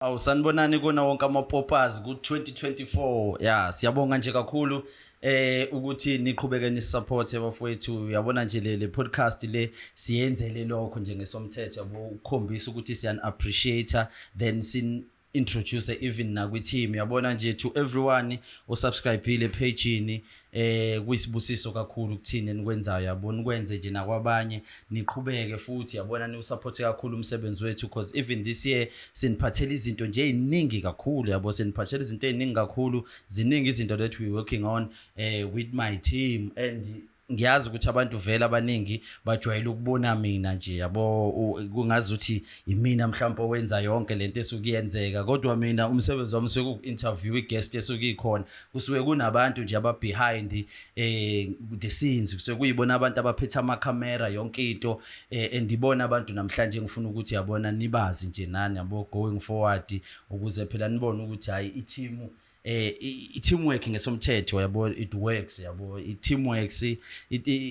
Awu sanibonani kona wonke ama poppers ku 2024 ya siyabonga nje kakhulu eh ukuthi niqhubeke ni support abafowethu uyabona nje le podcast le siyenzele lokho nje ngesomthetho yabo ukukhombisa ukuthi siyan appreciate then sin introduce even nakwi team yabona nje to everyone osubscribile page ni eh kuyisibusiso kakhulu kuthina enikwenzayo yabona ukwenze nje nakwabanye niqhubeke futhi yabona niwusupport kakhulu umsebenzi wethu because even this year siniphathela izinto nje eziningi kakhulu yabo siniphathela izinto eziningi kakhulu ziningi izinto that we working on eh with my team and ngiyazi ukuthi abantu vele abaningi bajwayele ukubona mina nje yabo kungazi ukuthi yimina mhlawumbe owenza yonke lento esuke iyenzeka kodwa mina umsebenzi wami usuke uku-interview i-guest esuke ikhona kusuke kunabantu nje ababehind um eh, the scenes kusuke kuyibona abantu abaphethe amakhamera yonke into um eh, and ibona abantu namhlanje engifuna ukuthi yabona nibazi nje nani yabo going forward ukuze phela nibone ukuthi hhayi ithimu eh i-teamwork ngesomthetho yabo it works yabo i-teamwork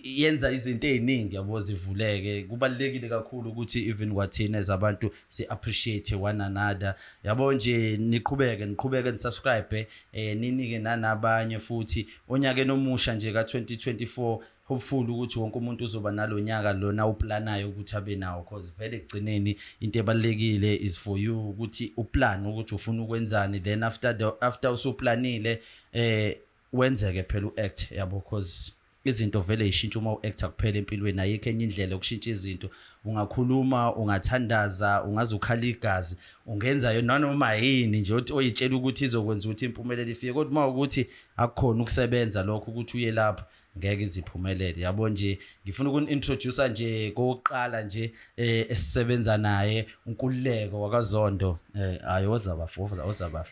yenza izinto eziningi yabo zivuleke kubalekile kakhulu ukuthi even kwathina as abantu si appreciate one another yabo nje niqhubeke niqhubeke nisubscribe eh ninike nanabanye futhi onyakeni omusha nje ka2024 hopeful ukuthi wonke umuntu uzoba nalonyaka lona uplanayo ukuthi abe nawo cause vele ekugcineni into ebalekile is for you ukuthi uplan ukuthi ufuna ukwenzani then after the, after usuplanile eh wenzeke phela uact yabo cause izinto vele ishintsha uma uactor kuphela empilweni ayikho enye indlela yokushintsha izinto ungakhuluma ungathandaza ungaze ukhala igazi ungenza yona noma yini nje othi oyitshela ukuthi izokwenza ukuthi impumelelo ifike kodwa uma ukuthi akukhona ukusebenza lokho ukuthi uye lapho ngeke ize iphumelele yabo nje ngifuna ukuni-introducer nje kokuqala nje eh esisebenza naye unkululeko wakazondo eh hayi ozaba fofa ozaba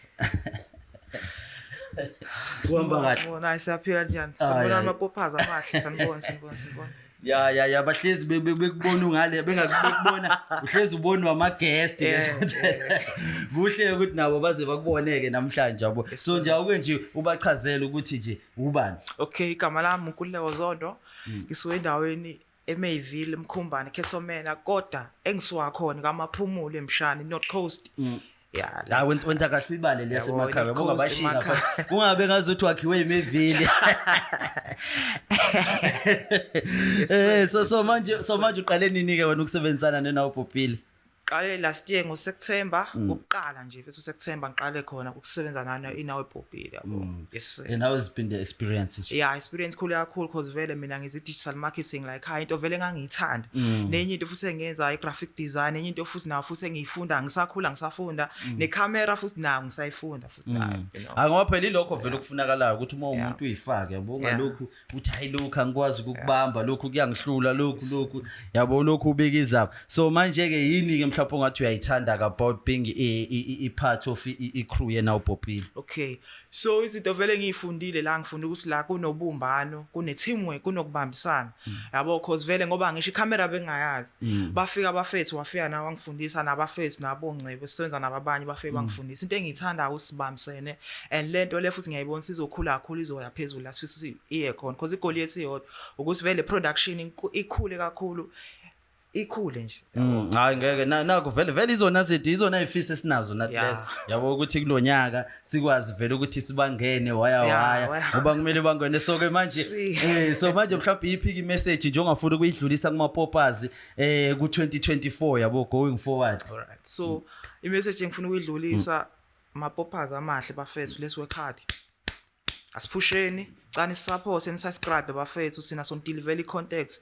kuhamba kahle sibona hayi siyaphila njani ah, sibona amapophaza amahle sanibona sanibona sanibona ya ya ya bahlezi bekubona ungale bengakubona uhlezi ubonwa ama guest kuhle ukuthi nabo baze bakuboneke namhlanje yabo so nje awuke nje ubachazele ukuthi nje ubani okay igama lami uNkululeko Zondo hmm. ngisuke endaweni eMayville eMkhumbane Khesomela kodwa engisuka khona kaMaphumulo eMshani North Coast hmm. ya la wenza wenza kahle ibale lese emakhaya bonga bashinga kungabe ngazothi wakhiwe imevile eh so so manje so manje uqale nini ke wena ukusebenzisana nena ubhubhile Qale last year ngo September mm. ukuqala nje bese September ngiqale khona ukusebenza nana inawe bhobhile yabo. Mm. Yes. And how has been the experience nje? Yeah, experience khulu kakhulu because vele mina ngizi digital marketing like ha into vele ngangiyithanda. Mm. Nenye into futhi engenza i graphic design, enye into futhi nawo futhi engiyifunda ngisakhula ngisafunda ne camera futhi nayo ngisayifunda futhi nayo. Hayi ngoba phela ilokho vele ukufunakalayo ukuthi uma umuntu uyifake yabo ungalokhu uthi hayi lokhu angikwazi ukukubamba lokhu kuyangihlula lokhu lokhu yabo lokhu ubika izaba so manje-ke yini-ke mhlawumpe ongathi uyayithanda about being i-part of i-crew yena ubhobhile okay so izinto vele ngiyifundile la ngifunda ukuthi la kunobumbano kune-teamwork kunokubambisana hmm. yabo cause vele ngoba ngisho ikhamera bengingayazi mm. bafika abafethu wafika nawe wangifundisa nabafethu nabongcebo sisebenza nababanye bafike mm. bangifundisa into engiyithandayo usibambisene and le nto le futhi ngiyayibona sizokhula kakhulu izoya phezulu la sifisa iye khona because igoli yethu iyodwa ukuthi vele production ikhule kakhulu ikhule nje mm, hayi ngeke naku vele vele izona zidi izona izifisi esinazo nathi lezo yabo ukuthi kulonyaka sikwazi vele ukuthi sibangene waya waya ngoba kumele bangene so ke manje eh so manje mhlawumbe iphiki message nje ongafuna ukuyidlulisa kuma poppers eh ku 2024 yabo going forward all right so i message engifuna ukuyidlulisa mm. ma poppers amahle bafethu lesi wekhadi asiphusheni cani support and subscribe bafethu sina sontili vele contacts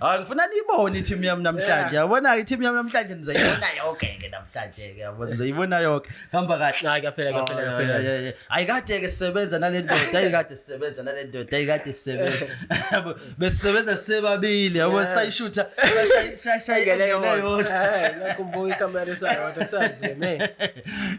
Hayi ngifuna nibone i-team yami namhlanje. Yabona i-team yami namhlanje nizoyibona yonke ke namhlanje ke. Yabona nizoyibona yonke. Hamba kahle. Hayi kaphela kaphela kaphela. Hayi kade ke sisebenza nale ndoda, hayi kade sisebenza nale ndoda, hayi kade sisebenza. Besisebenza sibabili, yabo sayishutha, shayingele yona. Hayi nakumbuka ikamera sayo, kusanzima me.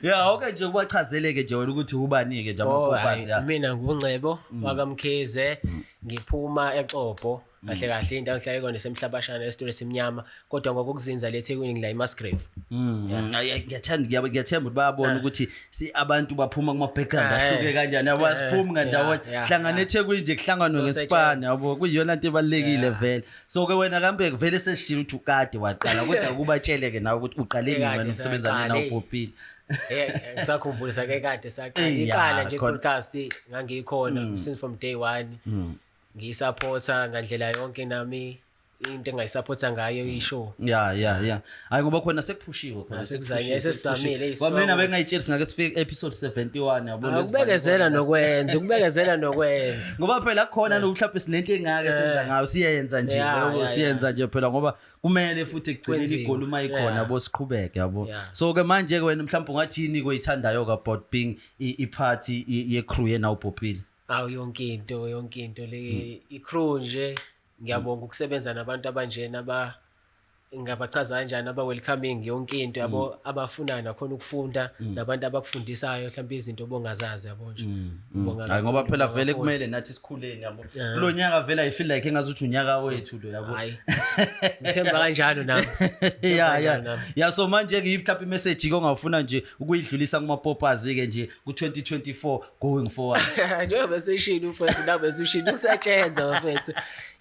Yeah, okay nje kubachazeleke nje wena ukuthi ubani ke nje abakwazi. Mina ngungcebo wakamkhize. Mm. ngiphuma eXobho mm. kahle kahle indawo ngihlale kona semhlabashana esitolo esimnyama kodwa ngokukuzinza le Thekwini ngila iMasgrave mm. ngiyathanda ngiyabe ngiyathemba ukuthi bayabona ah. ukuthi si abantu baphuma kuma background ah, ahluke eh. kanjani yabo eh, siphumi ngandawonye hlangana eThekwini nje kuhlanganwe ngesipani yabo kuyiyona into ebalekile vele so ke wena kambe vele sesishilo ukuthi ukade waqala kodwa kubatsheleke nawe ukuthi uqale nini wena usebenza nina uPopile Eh, ngisakhumbula sake kade saqala Eh, ya, iqala nje khona. podcast ngangikhona Mm. since from day one Mm. ngiyisupporta ngandlela yonke nami into engayisupporta ngayo ishow ya ya ya hayi ngoba khona sekuphushiwe khona Ah, sekuzanywe, sesizamile, eyi, kwamina sibawa. bengayitsheli singake sifike episode 71 yabo Ah, ukubekezela nokwenza ukubekezela nokwenza ngoba phela khona nokuhlaphe sinento engake senza ngayo siyenza nje Yeah, yabo, yeah, siyenza nje phela ngoba kumele futhi ekugcineni Kwenziwe. igoli uma ikhona Yeah. yabo siqhubeke yabo Yeah. so ke manje ke wena mhlawumbe ungathi yini koyithandayo ka Bob Ping i- i-party i- ye-crew yena ubhobhile awu yonke into yonke into le i-crew nje ngiyabonga ukusebenza nabantu abanjena aba ngabachaza kanjani aba-welcoming yonke into yabo abafunayo nakhona ukufunda nabantu abakufundisayo mhlawumbe izinto obongazazi yabo nje Ngibonga Mm. Hayi, ngoba kakhulu, phela ngibonga vele kakhulu. kumele nathi sikhuleni yabo Yeah. kulo nyaka vele i feel like engazuthi unyaka wethu lo yabo hayi ngithemba kanjalo nami ya kanjalo ya nami. ya so manje ke mhlawumbe imessage ke ongawufuna nje ukuyidlulisa kuma poppers ke nje ku 2024 going forward njengoba esishilo mfethu nabe esishilo usatshenza mfethu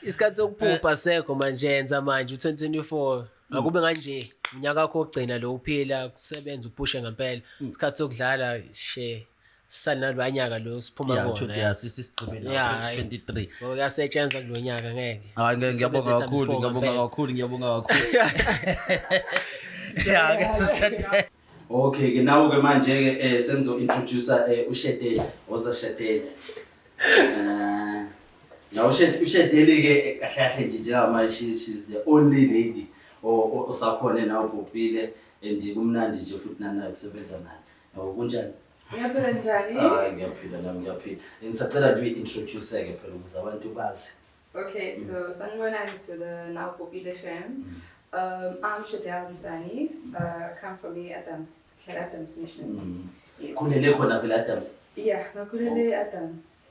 isikhathi sokuphupha sekho manje yenza manje u-2024 akube kanje unyaka wakho wokugcina lo uphila kusebenza uphushe ngempela isikhathi sokudlala she sanalwanyaka lo siphuma Yeah, kuwona, 20 yeah. yeah, sisi sigqibe la, Yeah, hhayi. 2023. Ngoba kuyasetshenzwa kulo nyaka ngeke Hayi ngeke ngiyabonga Sebenza kakhulu, times four ngiyabonga ngempela. kakhulu, ngiyabonga kakhulu. Yeah, ngeke- Okay ke nawo ke manje ke eh sengizo introduce eh uShedeli, oza Shedeli. Eh nawo Shed- uShedeli ke eh, kahle kahle nje njengoba manje she she's the only lady o- o- osakhona nawo Bhopile and kumnandi nje futhi nanayo kusebenza nayo. Hawu kunjani? Ngiyaphila njani? Hayi ngiyaphila nami ngiyaphila. Ngisacela nje uyi-introduce-ke phela ukuze abantu bazi. Okay, so mm. sanibonani to the now Popile fam. Mm. Um, I'm Shadel Msani. Uh, come from the Adams, Shad Adams Mission. Mm. Yes. Kulele khona vele Adams? Yeah, ngakulele oh. Adams.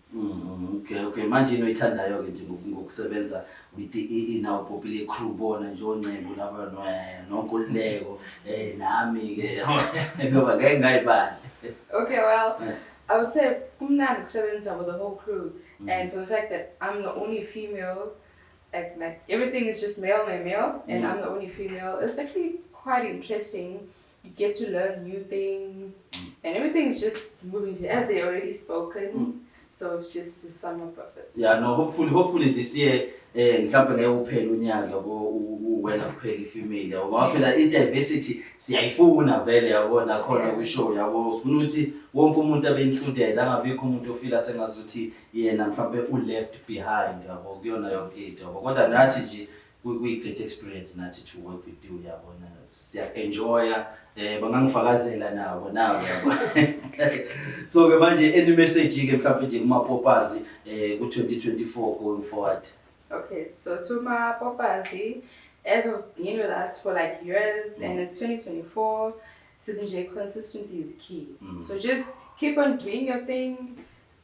Mm, okay okay manje into oyithandayo-ke nje ngoku- ngokusebenza with i- i- inawo popile crew bona nje oncebu laba no- eh, nonkululeko um nami-ke ngoba ngeke ngayibali Okay, well, Yeah. I would say kumnandi kusebenza with the whole crew Mm. and for the fact that I'm the only female, like, like everything is just male, male, male, and Mm. I'm the only female. It's actually quite interesting you get to learn new things mm. and everything is just moving as they already spoken mm. so it's just the sum up of it yeah no hopefully hopefully this year eh mhlawumbe ngeke uphele unyaka yabo uwena kuphela ifamily yabo ngoba phela i-diversity siyayifuna vele yabo nakhona kwishow yabo sifuna ukuthi wonke umuntu abe included angabikho umuntu ofila sengazuthi yena mhlawumbe u-left behind yabo kuyona yonke into yabo kodwa nathi nje kuyi great experience nathi to work with you yabona siya enjoya eh bangangifakazela nabo nabo yabo so ke manje any message ke mhlawumbe nje kuma popazi eh ku 2024 going forward okay so to my popazi as of being with us for like years mm. and it's 2024 sizinje consistency is key mm. so just keep on doing your thing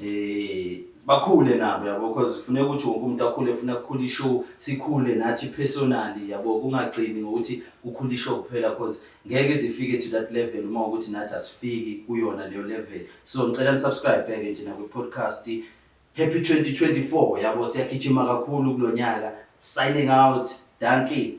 eh bakhule nabo yabo because kufuneka ukuthi wonke umuntu akhule funa kukhula ishow sikhule nathi personally yabo kungagcini ngokuthi kukhula ishow kuphela because ngeke izifike to that level uma ukuthi nathi asifiki kuyona leyo level so ngicela ni subscribe back nje na kwi podcast happy 2024 yabo siyagijima kakhulu kulonyaka signing out dankie